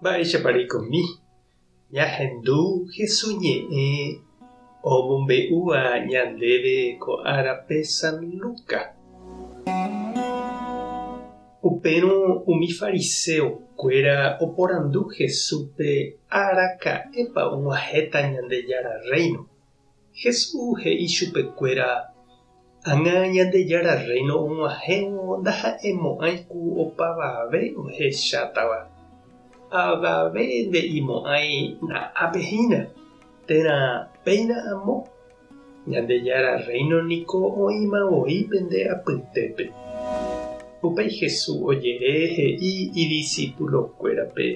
Mba'éichapa reikomi ñahendu Jesús ñe'ẽ omombe'úva ñandéve ko árape San Lucas? Upérõ umi fariseokuéra oporandu Jesúspe araka'épa og̃uahẽta Ñandejára Rréino Jesús he'i chupekuéra, Ág̃a Ñandejára Rréino og̃uahẽvo ndaha'emo'ãi ku opavave ohechátava. Avave nde'imo'ãi na'ápe hína, térã péina amo. Ñandejára Rréino niko oĩma voi pende apytépe. Upéi Jesús ojere he'i idisipulokuérape,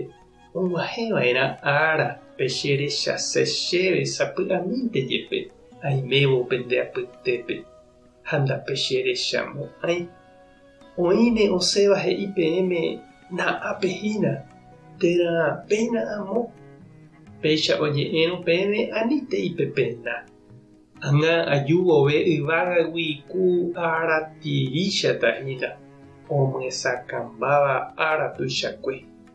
Oguahẽ va'erã ára pe che rechase chéve sapy'amínte jepe aimévo pende apytépe, ha ndape che recha mo'ãi. Oĩne osẽva he'i peẽme na'ápe hína, térã péina amo. Péicha oñe'ẽrõ peẽme anítei pe pena. Ãngã aju vove yvágagui ku ára tiríchata hína, omyesakãmbáva ára tuichakue.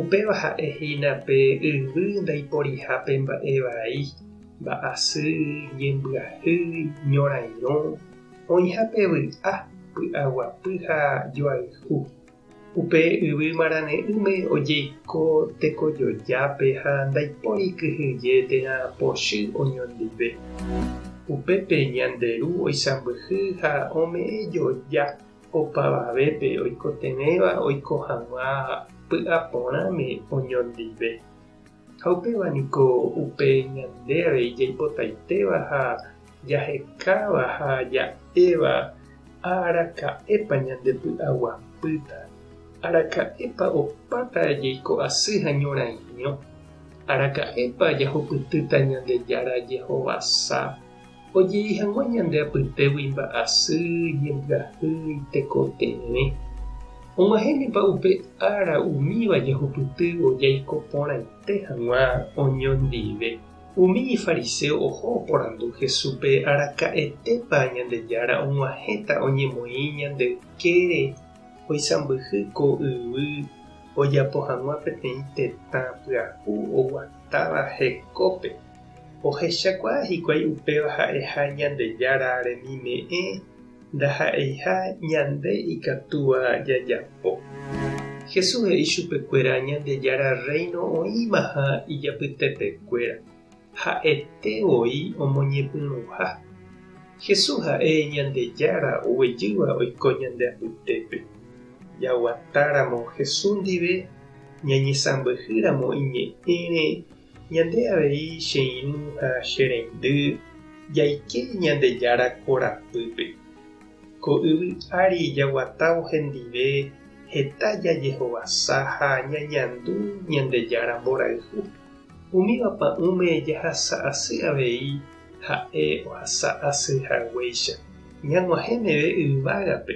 Upéva ha'e hína pe yvy ndaiporiha pe mba'e vai, mba'asy, ñembyahy, ñorairõ, oĩha pe vy'a, py'aguapy ha joayhu. Upe yvy marane'ỹme ojeiko tekojojápe ha ndaipóri kyhyje térã pochy oñondive. Upépe ñande Ru oisãmbyhy ha ome'ẽ joja. opavavépe oikotevẽva oiko hag̃ua py'a porãme oñondive. Ha upéva niko upe ñande avei jaipotaitéva ha jahekáva ha ja'éva ha araka'épa ñande py'aguapýta, araka'épa opáta jaiko asy ha ñorãirõ, araka'épa jahupytýta Ñandejára jehovasa Ojei hag̃ua ñande apytégui mba'asy, jembyahy, tekotevẽ. Og̃uahẽnepa upe ára umíva jahupytývo jaiko porãite hag̃ua oñondive? Umi ifariséo oho oporandu Jesúspe araka'etépa Ñandejára og̃uahẽta oñemoĩ ñande ykére oisãmbyhy ko yvy ojapo hag̃ua peteĩ tetã pyahu oguatáva hekópe. Ohechakuaa hikuái upéva ha'eha Ñandejára remime'ẽ ndaha'eiha ñande ikatúva jajapo. Jesús he'i chupekuéra Ñandejára Rréino oĩmaha ijapytepekuéra, ha'ete voi omoñepyrũha. Jesús ha'e Ñandejára oguejýva oiko ñande apytépe. Jaguatáramo Jesús ndive, ñañesãmbyhýramo iñe'ẽre, Ñande avei che irũ ha che reindy jaike Ñandejára korapýpe. Ko yvy ári jaguatávo hendive heta jajehovasa ha ñañandu Ñandejára mborayhu. Umíva pa'ũme jahasa asy avei ha'e ohasa asy haguéicha. Ñag̃uahẽ meve yvágape,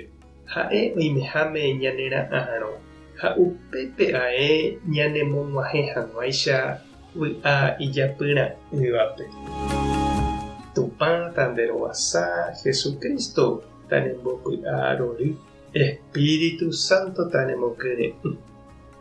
Ha'e oimeháme ñanera'arõ, ha upépe ae ñanemog̃uahẽ hag̃uáicha vy'a ijapyra'ỹvape. Tupã Tanderovasa, Jesucristo tanembopy'arory, Espíritu Santo tanemokyre'ỹ.